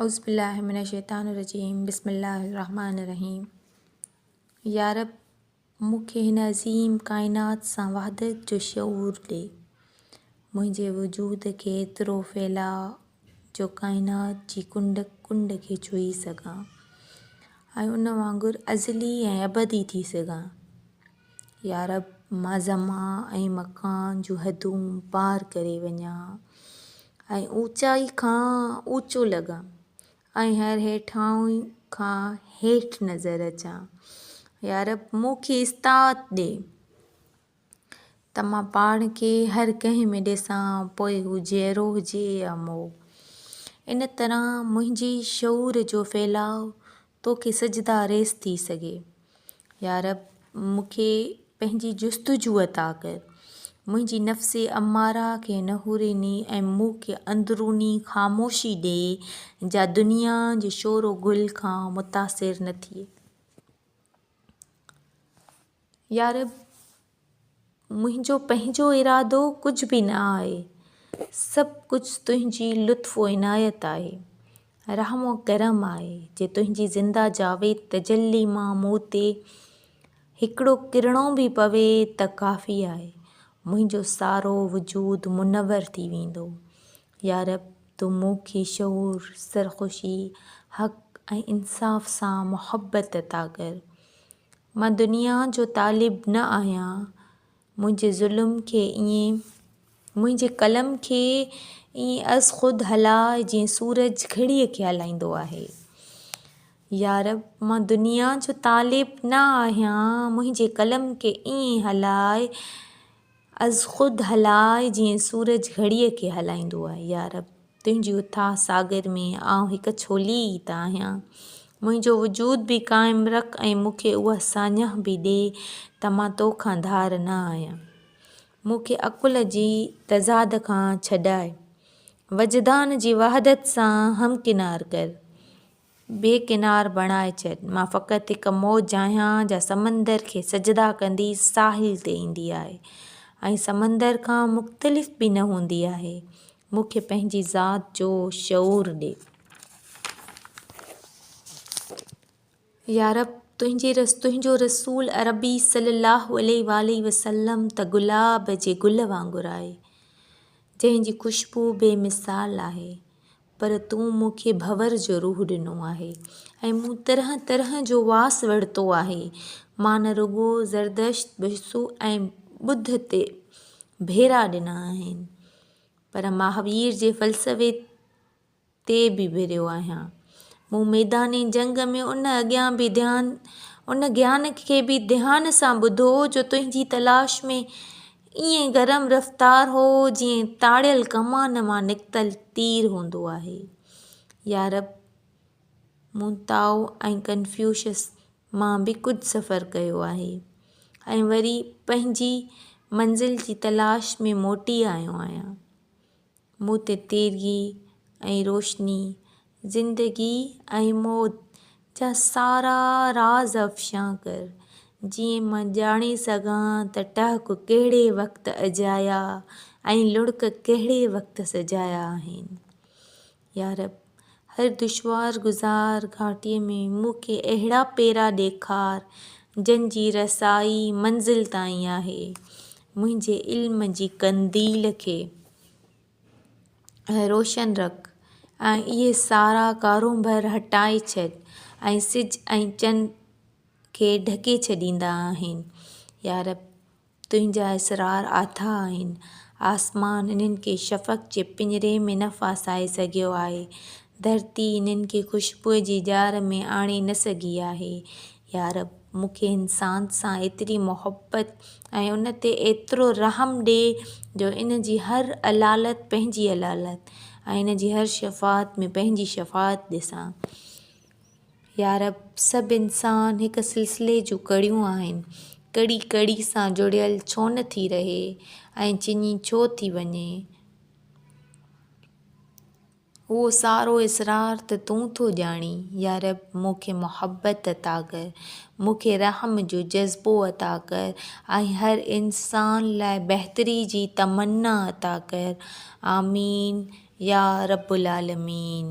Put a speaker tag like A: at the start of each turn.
A: اعوذبالله من الشيطان الرجيم بسم الله الرحمٰن الرحيم يارب مون کي هن عظيم ڪائنات سان وحدت جو شعور ڏي منهنجي وجود کي ايترو ڦهلاء جو ڪائنات جي ڪنڊ ڪنڊ کي ڇهي سگهان ۽ ان وانگر ازلي ۽ ابدي ٿي سگهان يارب! مان زمان ۽ مڪان جون حدون پار ڪري وڃان ۽ اوچائي کان اوچو لڳان ۽ هر هيٺاهوء کان هيٺ نظر اچان. يارب! مون کي استطاعت ڏي ته مان پاڻ کي هر ڪنهن ۾ ڏسان، پوء هو جيئرو هجي يا مئو. ان طرح منهنجي شعور جو ڦهلاء توکي سجدا ريس ٿي سگهي. يارب! مون کي پنهنجي جستجو عطا ڪر. منهنجي نفس اماره کي نحورين ۽ مون کي اندروني خاموشي ڏي جا دنيا جي شور و گل کان متاثر نه ٿئي. يارب! منهنجو پنهنجو ارادو ڪجهه به نه آهي، سڀ ڪجهه تنهنجي لطف و عنايت آهي، رحم و ڪرم آهي، جي تنهنجي زنده جاويد تجلي مان مون تي هڪڙو ڪرڻو به پوي ته ڪافي آهي، منهنجو سارو وجود منور ٿي ويندو. يارب! تون مون کي شعور، سرخوشي، حق ۽ انصاف سان محبت عطا ڪر. مان دنيا جو طالب نه آهيان، منهنجي ظلم کي ائين، منهنجي قلم کي ائين از خود هلاء جيئن سورج گهڙيء کي هلائيندو آهي. يارب! مان دنيا جو طالب نه آهيان، منهنجي قلم کي ائين هلاء از خود هلاء جيئن سورج گهڙيء کي هلائيندو آهي. يارب! تنهنجي اٿاهه ساگر ۾ آئون هڪ ڇولي ئي ته آهيان. منهنجو وجود به قائم رک ۽ مون کي اها ساڃاهه به ڏي ته مان تو کان ڌار نه آهيان. مون کي عقل جي تضاد کان ڇڏاء. وجدان جي وحدت سان همڪنار ڪر. بي ڪنار بڻائي ڇڏ. مان فقط هڪ موج آهيان جا سمندر کي سجدا ڪندي ساحل تي ايندي آهي ۽ سمندر کان مختلف به نه هوندي آهي. مون کي پنهنجي ذات جو شعور ڏي. يارب! تنهنجو رسول عربي صلّي اللّٰه عليه واٰله وسلّم ته گلاب جي گل وانگر آهي، جنهن جي خوشبو بي مثال آهي. پر تون مون کي ڀنور جو روح ڏنو آهي ۽ مون طرح طرح جو واس ورتو آهي. مان نه رڳو زردشت، بسو ۽ ٻڌ تي ڀيرا ڏنا آهن، پر مهاوير جي فلسفي تي به ڀريو آهيان. مون ميدان جنگ ۾ ان اڳيان به ڌيان، ان گيان کي به ڌيان سان ٻڌو جو تنهنجي تلاش ۾. ائين گرم رفتار هو جيئن تاڙيل ڪمان مان نڪتل تير هوندو آهي. يارب، مون تائو ۽ ڪنفيوشس مان به ڪجهه سفر ڪيو آهي ۽ وري پنهنجي منزل جي تلاش ۾ موٽي آيو آهيان. مون تي تيرگي ۽ روشني، زندگي ۽ موت جا سارا راز افشان ڪر، جيئن مان ڄاڻي سگهان ته ٽهڪ ڪهڙي وقت اجايا ۽ لڙڪ ڪهڙي وقت سجايا آهن. يارب! هر دشوار گذار گهاٽيء ۾، مون کي اهڙا پيرا ڏيکار، جن جي رسائي منزل تائين آهي. منهنجي علم جي قنديل کي روشن رک ۽ اهي سارا ڪارونڀر هٽائي ڇڏ، ۽ سج ۽ چنڊ کي ڍڪي ڇڏيندا آهن. يارب! تنهنجا اسرار اٿاهه آهن. آسمان انهن کي شفق جي پڃري ۾ نه ڦاسائي سگهيو آهي. ڌرتي انهن کي خوشبوء جي ڄار ۾ آڻي نه سگهي آهي. يارب! مون کي انسان سان ايتري محبت ۽ ان تي ايترو رحم ڏي جو ان جي هر علالت پنهنجي علالت ۽ ان جي هر شفاعت ۾ پنهنجي شفاعت ڏسان. يارب! سڀ انسان هڪ سلسلي جون ڪڙيون آهن، ڪڙي ڪڙي سان جڙيل ڇو نه ٿي رهي ۽ چني ڇو ٿي وڃي؟ اهو سارو اسرار ته تون ٿو ڄاڻين، يارب! مون کي محبت عطا ڪر، مون کي رحم جو جذبو عطا ڪر ۽ هر انسان لاء بهتري جي تمنا عطا ڪر. آمين يا رب العالمين.